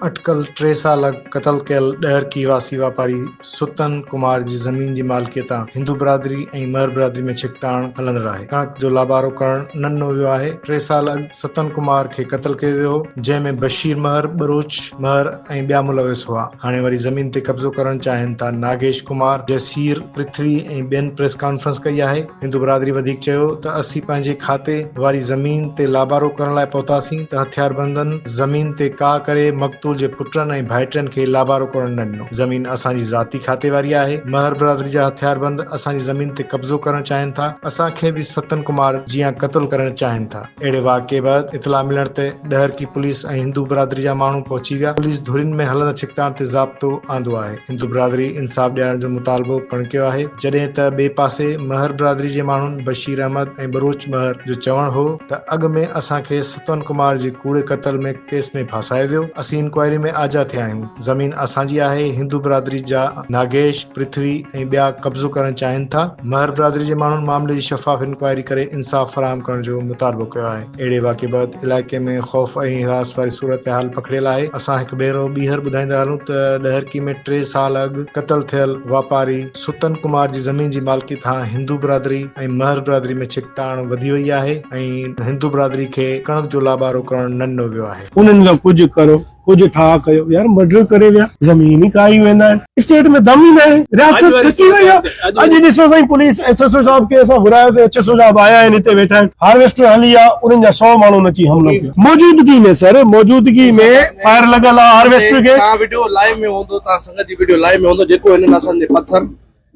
اٽڪل ٽي سال اڳ قتل ڪيل ڏهرڪي واسي واپاري ستن ڪمار جي زمين جي مالڪيء تان هندو برادري ۽ مهر برادري ۾ ڇڪتاڻ هلندڙ آهي ڪڻڪ جو لابارو ڪرڻ ننڍو ويو آهي ٽي سال اڳ ستن ڪمار کي قتل ڪيو ويو هو جنهن ۾ بشير مهر ٻروچ مهر ۽ ٻيا ملوث هئا هاڻي وري زمين تي قبضو ڪرڻ چاهين ٿا ناگيش ڪمار، جسير، پرٿوي ۽ ٻين پريس ڪانفرنس ڪئي آهي هندو برادري وڌيڪ چيو ته اسين پنهنجي کاتي واري زمين تي لابارو ڪرڻ لاء پهتاسين ته هٿياربندن زمين تي ڪاء ڪري مقتول جي پٽن ۽ ڀائٽين کي لابارو ڪرڻ نه ڏنو زمين اسان جي ذاتي کاتي واري آهي مهر برادري جا هٿياربند اسان جي زمين تي قبضو ڪرڻ چاهين ٿا اسان کي به ستن ڪمار جيان قتل ڪرڻ چاهين ٿا. اهڙي واقعي بعد اطلاع ملڻ تي ڏهرڪي پوليس ۽ هندو برادري جا ماڻهو پهچي ويا، پوليس ڌرين ۾ هلندڙ ڇڪتاڻ تي ضابطو آندو آهي، هندو برادري انصاف ڏيارڻ جو مطالبو پڻ ڪيو آهي، جڏهن ته ٻئي پاسي مهر برادري جي ماڻهن بشير احمد ۽ ٻروچ مهر جو چوڻ هو ته اڳ ۾ اسان کي ستون ڪمار جي ڪوڙي قتل ۾ ڪيس ۾ ڦاسايو ويو، اسين انڪوائري ۾ آجا ٿيا آهيون، زمين اسان جي آهي، هندو برادري جا. ناگيش، پرٿوي ۽ ٻيا قبضو ڪرڻ چاهين ٿا، مهر برادري جي ماڻهن معاملي جي شفاف انڪوائري ڪري انصاف فراهم ڪرڻ جو مطالبو ڪيو آهي، اهڙي واقعي بعد علائقي ۾ خوف ۽ حراس واري صورتحال پکڙيل آهي، اسان هڪ ڀيرو ٻيهر ٻڌائيندا هلون ته ڏهرڪي ۾ ٽي سال اڳ قتل ٿيل واپاري ستن ڪمار جي زمين جي مالڪي ٿان هندو برادري ۽ مهر برادري ۾ ڇڪتاڻ وڌي وئي آهي ۽ هندو برادري کي ڪڻڪ جو لابارو ڪرڻ نه ڏنو ويو آهي. انهن کان ڪجهه ڪرو ڪجهه ٺاهه ڪيو يار مرڊر ڪري ويا زمين ئي کائي ويندا آهن اسٽيٽ ۾ دم ئي نه آهي رياست ٿڪي وئي آهي اڄ ڏسو سائين پوليس ايس ايس او صاحب کي اسان گهراياسين ايس ايس او صاحب آيا آهن هتي ويٺا آهن هارويسٽر هلي آ انهن جا 100 ماڻهن اچي حملو ڪيو موجودگي ۾ سر موجودگي ۾ فائر لڳل آ هارويسٽر کي توهان وڊيو لائيو ۾ هوندو توهان سنگت جي وڊيو لائيو ۾ هوندو جيڪو هنن اسان جي پٿر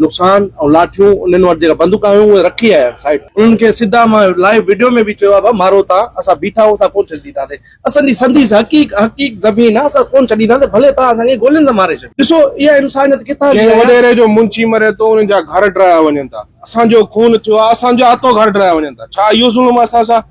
نقصان ۽ لاٺيون انهن وٽ جيڪا بندوقا هيون اهي رکي آيا آهن سائيٽ انهن کي سڌا مان لائيو وڊيو ۾ به چيو آهي ڀا مارو تان اسان بيٺا آهيون اسان ڪون ڇڏينداسين اسان جي سنديس حقيق حقيق زمين آهي اسان ڪون ڇڏينداسين ڀلي توهان اسان کي گولين سان ماري ڇڏيو ڏسو اها انسانيت ڪٿان جي ڪنهن وڏيري جو منشي مري ٿو انهن جا گهر ڊهرايا وڃن ٿا اسان جو خون ٿيو آهي اسان جا اتو گهر ڊهرايا وڃن ٿا ڇا اهو ظلم آهي اسان سان.